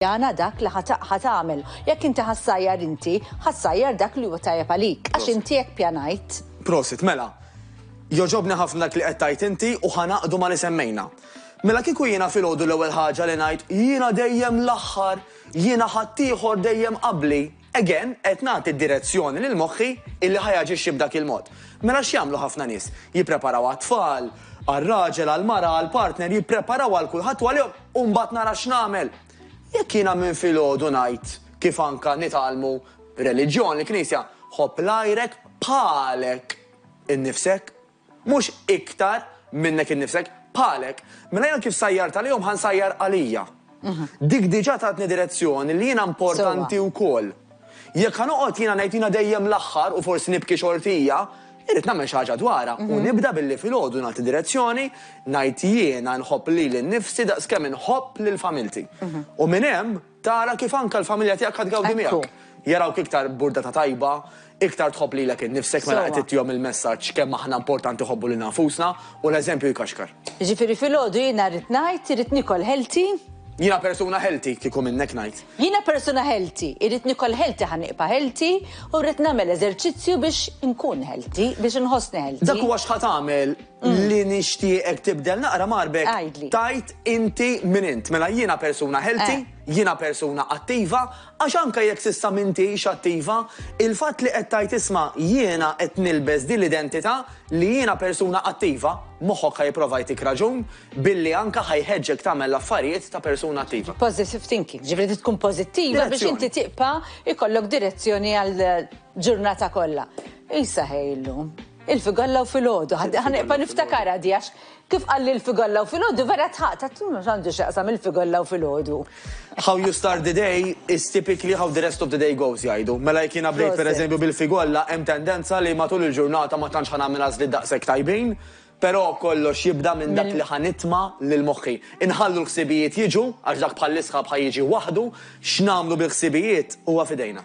Jana dak li ħa ħa tagħmel. Jekk inti ħa ssajjar inti, ħa ssajjar dak li huwa tajjeb għalik, għax inti hekk pjanajt. Prosit, mela. Jogħġobni ħafna dak li qed tgħid inti u ħa ngħaqdu ma' li semmejna. Mela kieku jiena filgħodu l-ewwel ħaġa li ngħid, jiena dejjem l-aħħar, jiena ħaddieħor dejjem qabli. Again, qed nagħti direzzjoni lil moħħi illi ħa jaġixxi b'dak il-mod. Mela x'jagħmlu ħafna nies? Jippreparaw għat-tfal, għar-raġel, għall-mara, għall-partner, jippreparaw għal kulħadd u għalihom u mbagħad nara x'nagħmel. Jekk jiena minn filgħodu ngħid kif anka nitgħallmu reliġjon, il-Knisja, ħobb l-għajrek bħalek innifsek. Mhux iktar minnek innifsek, bħalek, mela jiena kif sajjart għalihom ħa nsajjar għalija. Dik diġà tatni direzzjoni li jiena importanti wkoll. Jekk ħa noqgħod jiena ngħid jiena dejjem l-aħħar u forsi nibki xortija, irrid nagħmel xi ħaġa dwarha u nibda billi filgħodu nagħti direzzjoni, ngħid jiena nħobb lili nnifsi daqskemm inħobb lil familti. U minn hemm, Tara kif anke l-familja tiegħek ħa tgawdi miegħek. Jarawk iktar burdata tajba, iktar tħobb lilek innifsek mela qed ittihom il-messaġġ kemm aħna importanti nħobbu lilna nfusna u l-eżempju jkaxkar. Jiġifieri filgħodu jiena rrid ngħid irrid niekol healthy. Jiena persuna healthy kieku minnek ngħid. Jiena persuna healthy, irrid nikol healthy ħa nibqa' healthy u rrid nagħmel eżerċizzju biex inkun healthy, biex inħossni healthy. Dak huwa x'ħa tagħmel. li nixtieqek tibdel naqra marbek. Għidli. Tajt inti min int. Mela jiena persuna healthy, Eh. jiena persuna attiva, għax anke jekk s'issa m'intix attiva, il-fatt li qed tajt isma' jiena qed nilbes din l-identità li jiena persuna attiva, moħħok ħa jipprova jtik raġun billi anke ħa jħeġġek tagħmel l-affarijiet ta' persuna attiva. Positive thinking, ġifri trid tkun pożittiva biex Direzzjoni. inti tibqa' ikollok direzzjoni għal ġurnata kollha. Isa ħej illum. Il-figalla u filgħodu, ħa neqpa' niftakarha di għax kif qalli l-figalla u filgħodu vera tħaqt, għad x'għandu x'jaqsam il-figalla u filgħodu. How you start the day is typically how the rest of the day goes jgħidu. Mela jekk jiena bdejt pereżempju bil-figolla hemm tendenza li matul il-ġurnata ma tantx ħa nagħmel għażliet daqshekk tajbin, però kollox jibda minn dak li ħa nitma' lil moħħi. Inħallu l-ħsibijiet jiġu għax dak bħall-isħab ħa jiġi waħdu, x'nagħmlu bil-ħsibijiet huwa f'idejna.